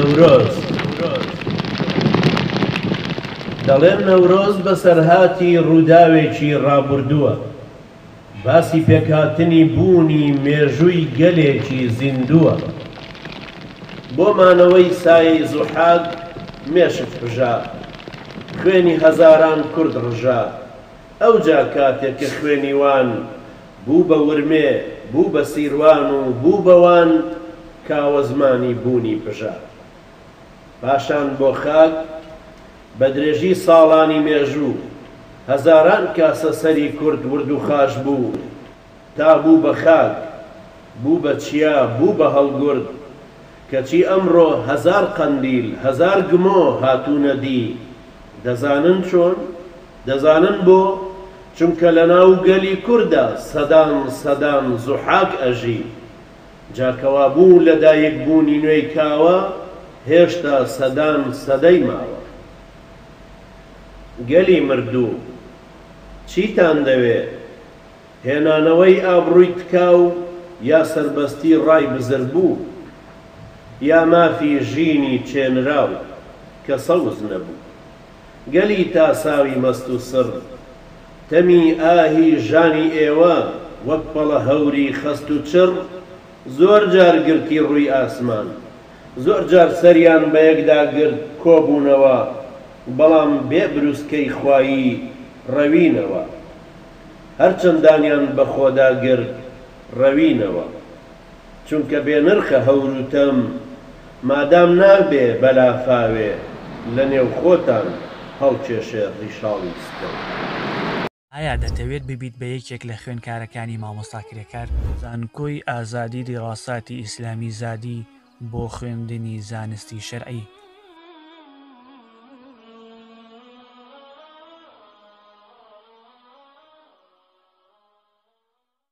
نەورۆز دەڵێن نەورۆز بەسەرهاتی ڕووداوێکی ڕابوردووە باسی پێکهاتنی بوونی مێژووی گەلێکی زیندووە بۆ مانەوەی سایەی زوحاک مێشک پژا خوێنی هەزاران کورد ڕژا ئەوجا کاتێ کە خوێنی وان بوو بە ورمێ، بوو بە سیروان و بوو بە وان، کاوە زمانی بوونی پژا. پاشان بۆ خاک، بە درێژی ساڵانی مێژوو، هەزاران کاسە سەری کورد وردوخاش بوو، تا بوو بە خاک، بوو بە چیا، بوو بە هەڵگورد، کەچی ئەمڕۆ هەزار قەندیل، هەزار گمۆ هاتوونە دی. دەزانن چۆن؟ دەزانن بۆ؟ چونکە لە ناو گەلی کوردا سەدان سەدان زوحاک ئەژی. جا کەوا بوو لە دایک بوونی نوێی کاوە هێشتا سەدان سەدەی ماوە. گەلی مردوو. چیتان دەوێ؟ هێنانەوەی ئابڕووی تکاو یا سەربەستی ڕای بزربوو یا مافی ژینی چێنراو کە سەوز نەبوو. گەلی تاساوی مەست و سڕ تەمی ئاهی ژانی ئێوە وەک پەڵە هەوری خەست و چڕ زۆر جار گرتی ڕووی ئاسمان، زۆر جار سەریان بە یەکدا گرت کۆبوونەوە بەڵام بێ بروسکەی خوایی ڕەوینەوە. هەرچەند دانیان بە خۆدا گرت ڕەوینەوە چونکە بێ نرخە هەورو تەم مادام نابێ بەلافاوێ لە نێو خۆتان هەڵکێشێ ڕیشاڵی ستەم. ئایا دەتەوێت ببیت بە یەکێک لە خوێنکارەکانی مامۆستا کرێکار؟ زانکۆی ئازادی دیراساتی ئیسلامی زادی، بۆ خوێندنی زانستی شەرعی.